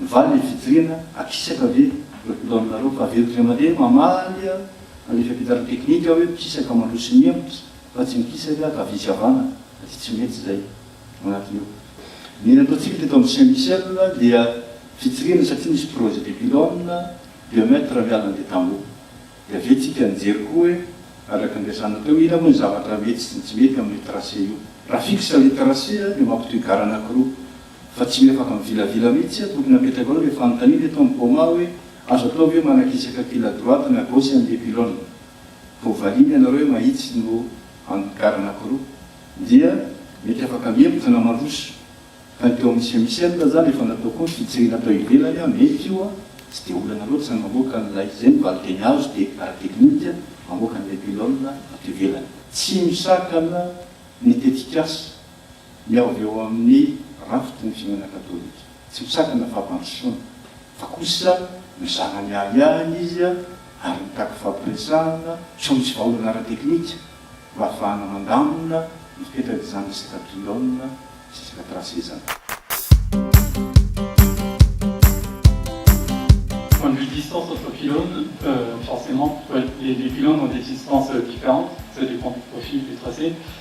Mivaly ny fijoriana, akisaka ve ireo mpino aminareo? Fa avy eto indray mandeha mamaly any fiampianarana teknika aho hoe mikisaka mandroso sy mihemotra fa tsy mikisaka aho ka avia tsy avana aty tsy mety izay agnatiny ao. Ny nataontsika teto amin'ny CMCL dia fijoriana satria nisy projet des pylônes deux mètres raha miala an'ilay tamboho. Dia avy eo tsika nijery koa hoe araka ny niresahana teo ina moa ny zavatra mety sy ny tsy mety amin'io tracé io. Raha fixe ilay tracé dia mampitohy gara anankiroa. Fa tsy mety afaka mivilavila mihitsy aho, tokony apetraka ao ilay fanontaniana eto amin'ny coma hoe azo atao ve manakisaka fil à droite na gauche an'ilay pylone? Vao valiana ianareo hoe mahitsy no angar anankiroa dia mety afaka mihemotra na mandroso. Fa ny teo amin'ny semisely raha zany efa natao koa ny fitsirihina tao ivelany an, mety io an, tsy dia olana loatra ny mamoaka an'ilay, izay no valinteny azo dia ara teknika, mamoaka an'ilay pylone ato ivelany. Tsy misakana ny tetikasa. Ny ao avy ao amin'ny rafitry ny Fiangonana Katolika. Tsy misakana fampandrosoana, fa kosa mizara ny ahiahiny izy ary mitaky fampiresahana soa misy vahaolana ara-teknika mba hahafahana mandamina ny fetran'ny zanany isaka mpihaona sy isaka mpirasezana. Point de vue distance entre pylônes, forcément, les pylônes ont des distances différentes, ça dépend du profil du tracé.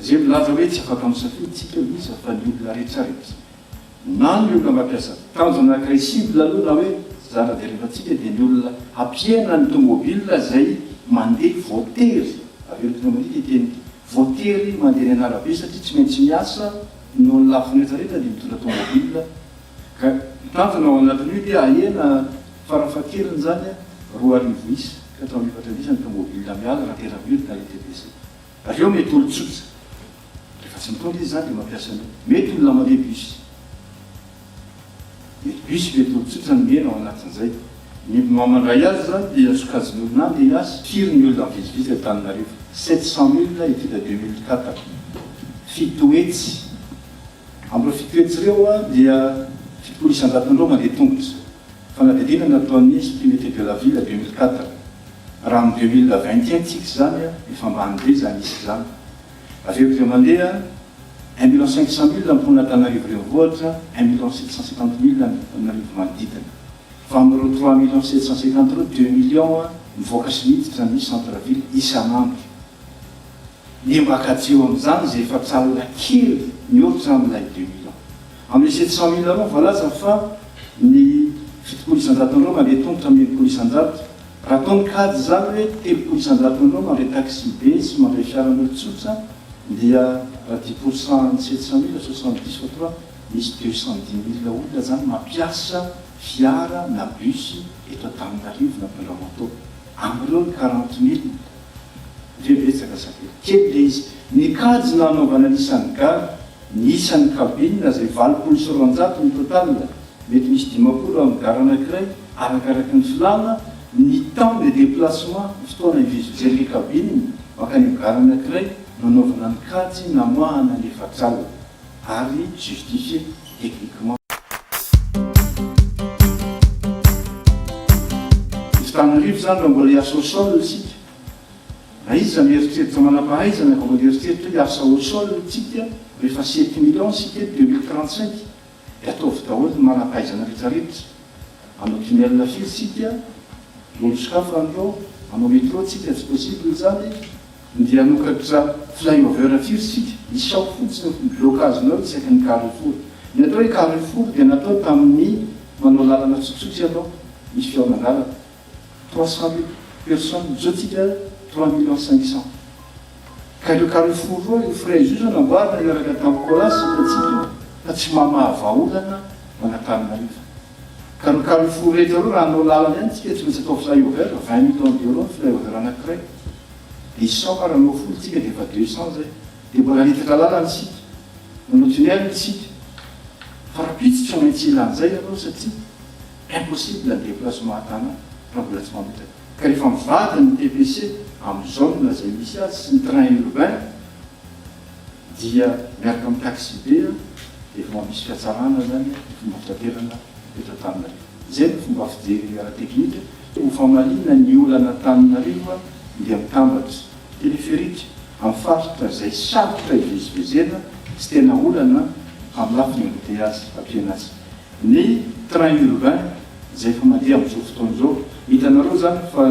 Izay milaza hoe tsy afaka misafidy isika iza fa ny olona rehetra ary aza na ny olona mampiasa tanjona anankiray cible aloha na hoe zara jerevantsika dia ny olona hampiaina ny tomobil izay mandeha voatery, averiko indray mandeha ity teny ity, voatery mandeha eny an'arabe satria tsy maintsy miasa noho ny lafiny rehetra rehetra dia mitondra tomobil, Ka ny tanjona ao anatin'io dia hahena farafahakeliny izany roa arivo isa ka hatramin'ny efatra arivo isa ny tomobila miala raha tena very ilay ETBC. Avy eo mety olon-tsotra, rehefa tsy mitondra izy izany dia mampiasa an'io. Mety olona mandeha bus. Mety bus, mety olon-tsotra ny miaina ao anatin'izay. Ny mandray azy izany dia sokajin'ny olona andeha hiasa, kiry ny olona mivezivezy eto Antananarivo. Sept cent milles étude deux mille quatre, fito hetsy Amin'ireo fito hetsy ireo dia fitopolo isan-jaton'ny ireo mandeha tongotra, fanadihadiana nataon'ny Institut Météo de la Ville deux mille quatre. Raha amin'ny deux mille vingt et un tsika izany, efa ambany be izany isa izany. Avy eo dia mandeha un million cinq cent mille ny mponin'Antananarivo Renivohitra, un million sept cent cinquante mille ny mponin'Antananarivo manodidina. Fa amin'ireo trois million sept cent cinquante ireo, deux million mivoaka sy miditra ny centre ville isan'andro. Dia mba kajiho amin'izany izay efa tsy alina kely mihoatra izany milay deux mille ans. Amin'ilay sept cent mille ans voalaza fa ny fitopolo isan-jato andro mandeha tongotra amin'ny enimpolo isan-jato. Raha toa mikajy izany hoe telopolo isan-jato andro mandeha taxi be sy mandeha fiaran'olon-tsotra dia raha dix pour cent an'ny sept cent mille, soixante dix fois trois, misy deux cent dix mille olona izany mampiasa fiara na bus eto Antananarivo na Bellamanteau. Amin'ireo ny quarante mille. Ndry betsaka sa kely? Kely ilay izy. Ny kajy nanaovana ny isan'ny ga, ny isan'ny kabinina izay valopolo sy roanjato ny total, mety misy dimampolo amin'ny gar anankiray arakaraky ny filàna, ny temps de déplacement, ny fotoana ivezivezen'ilay kabinina mankany amin'ny gar anankiray nanaovana ny kajy namoahana ny efatralina. ary justifier techniquement. Izy tamin'arivo izany raha mbola hiasa au sol isika, na iza no hieritreritra manam-pahaizana ka mbola hieritreritra hoe hiasa au sol isika rehefa sept millions isika eto deux mille trente cinq dia ataovy daholo ny manam-pahaizana rehetra rehetra, hanao tunnel firy isika, lolo sokafy an'ireo, hanao metro isika tsy possible izany. Ndeha hanokatra flyover firy isika? Isaho fotsiny aho, ny blocage-nao isaky ny carrefour. Ny atao hoe carrefour dia natao tamin'ny manao lalana tsotsotra ianao, misy fihaonan-dalana. Trois cent mille personnes, izao tsika trois millions cinq cents. Ka ireo carrefour roa, ireo frais io izao namboarina niaraka tamin'ny Colas, hitantsika io, fa tsy mamaha vahaolana ho an'Antananarivo. Ka ny carrefour rehetra ireo raha hanao lalana ihany tsika tsy maintsy atao flyover, vingt minutes environ ny flyover anankiray, dia cent par anao folo tsika dia efa deux cents zay, dia mbola hanitatra lalana isika, manao tunnel isika, fa rahampitso tsy maintsy hila an'izay ianao satria impossible ny déplacement tana raha mbola tsy mametraka, ka rehefa mivady ny TPC, amin'ny zone izay misy azy sy ny train urbain, dia miaraka amin'ny taxibe dia efa mampisy fihatsarana izany ny fomba fitaterana eto Antananarivo. Izay no fomba fijery ara-teknika. Ho famaliana ny olana Antananarivo dia mitambatra téléphérique amin'ny faritra izay sarotra ivezivezena sy tena olana amin'ny lafiny embouteillages aty Fianarantsoa. Ny train urbain izay efa mandeha amin'izao fotoana izao, hitanareo izany fa.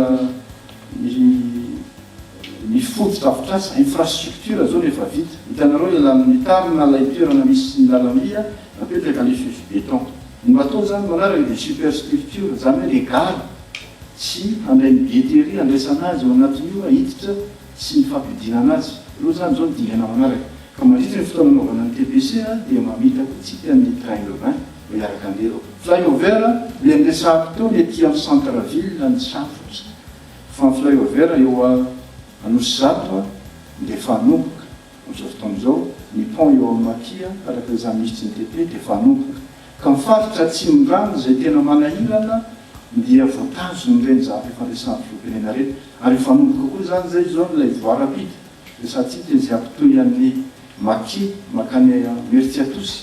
Ny ny fotodrafitrasa, infrastructure, zao no efa vita. Hitanareo ilay lalana mitarina ilay toerana misy ny lalamby a, napetraka ny fefy béton. Ny bateau zany manaraka dia superstructure, zany hoe le gara sy handray ny beterie handraisana azy ao anatin'io a, hiditra sy ny fampidinana azy. Ireo zany zao no dingana manaraka. Ka mandritra ny fotoana anaovana ny TPC a dia mamita koa tsika ny train urbain. miaraka an'ireo. Flyover eny Retsahapitony ety amin'ny centre ville ny safotra fa ny flyover eo Anosizato dia efa hanomboka amin'izao fotoana izao, ny pont eo Almaty araka izany misy JTP dia efa hanomboka ka ny faritra atsimondrano izay tena manahirana dia voatazon'ireny zavatra efa resahin'ny filoham-pirenena ireny ary efa hanomboka koa izany izay izao ilay voie rapide Retsahitsipy eny Ziampitoy an'ny Maki, Mankany Imerintsiatosy,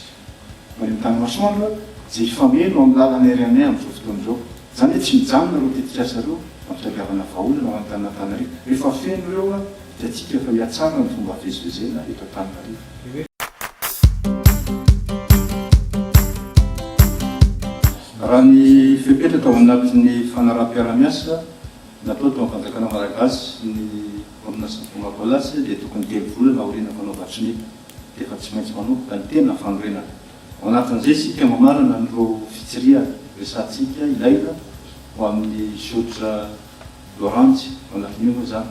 mario tany masoandro a, jiro fameno amin'ny lalana ery aminay amin'izao fotoana izao. Izany hoe tsy mijanona ireo tetikasa ireo hampitadiavana vahaolana ho any Tananantanarivo. Rehefa feno ireo a, dia tsika efa hihatsara ny fomba fivezivezena eto Antananarivo. Raha ny fepetra tao anatin'ny fanaraham-piarahamiasa Nataony tao amin'ny fanjakana malagasy ny baolina sy ny fonga baolasy dia tokony telo volana aoriana mpanao batrinita dia efa tsy maintsy manomboka ny tena fanorenana. Ao anatin'izay isika mamarana an'ireo fitsirihana resahantsika ilaina ho amin'ny Zotra Loranjy. Ao anatin'io moa izany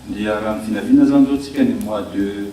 dia raha ny vinavina izany izao isika ny mois de.